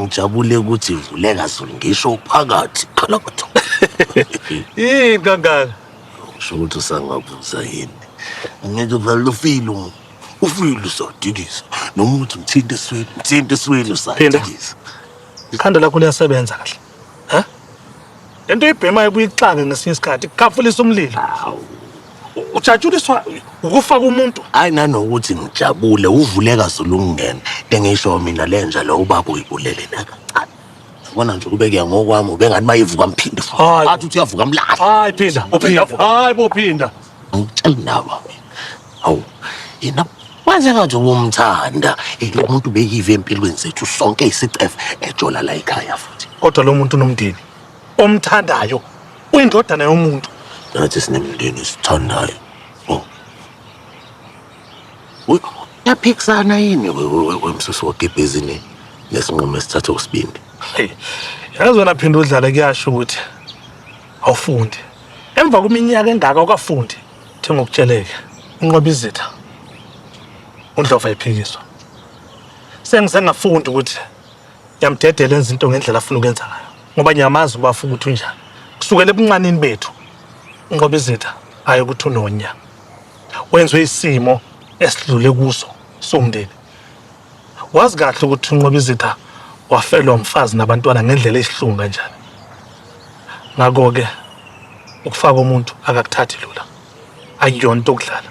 Ngijabule ukuthi vuleka Zulu ngisho uphakathi qala batho. Yini kangaka? Usho ukuthi usangabuza yini? Angeke vele ufile umuntu. Ufile usodikisa. Noma uthi mthinte esweni, mthinte esweni Phinda. usodikisa. Ikhanda lakho liyasebenza kahle. Ha? Le nto ibhemayo kuyixake ngesinye isikhathi kukhafulisa umlilo. Ujatshuliswa ukufaka umuntu. Hayi nanokuthi ngijabule uvuleka zulungena. Lengisho mina lenja lo ubaba uyibulele nakancane. Yabona nje kube kuya ngokwami ubengathi mayivuka mphinde futhi. Hayi. Athi uthi uyavuka mlahle. Hayi phinda, uphinda. Hayi bophinda. Angitsheli nawe. Hawu, yena waze ngathi ubumthanda lo muntu beyive empilweni zethu sonke isicefe ejola la ekhaya futhi. Kodwa lo muntu unomndeni omthandayo uyindodana yomuntu. Nathi sinemndeni sithandayo. Oh. Uy, Yaphikisana yini we- we- we- wemsusi wogibhizi ne- nesinqumo esithathe usibindi? Hey, yazi wena phinde udlale kuyasho ukuthi awufundi. Emva kweminyaka engaka ukafundi. Thi ngokutsheleke unqoba izitha uNdlova ephikiswa. Sengize ngafunda ukuthi ngiyamdedela enza into ngendlela afuna ukwenza ngayo ngoba ngiyamazi uba afuna ukuthi unjani. Kusukela ebuncanini bethu unqoba izitha aye ukuthi unonya. Wenzwe isimo esidlule kuso somndeni. wazi kahle ukuthi unqoba izitha wafelwa umfazi nabantwana ngendlela esihlungu kanjani ngakho-ke ukufaka umuntu akakuthathi lula akuyona into okudlala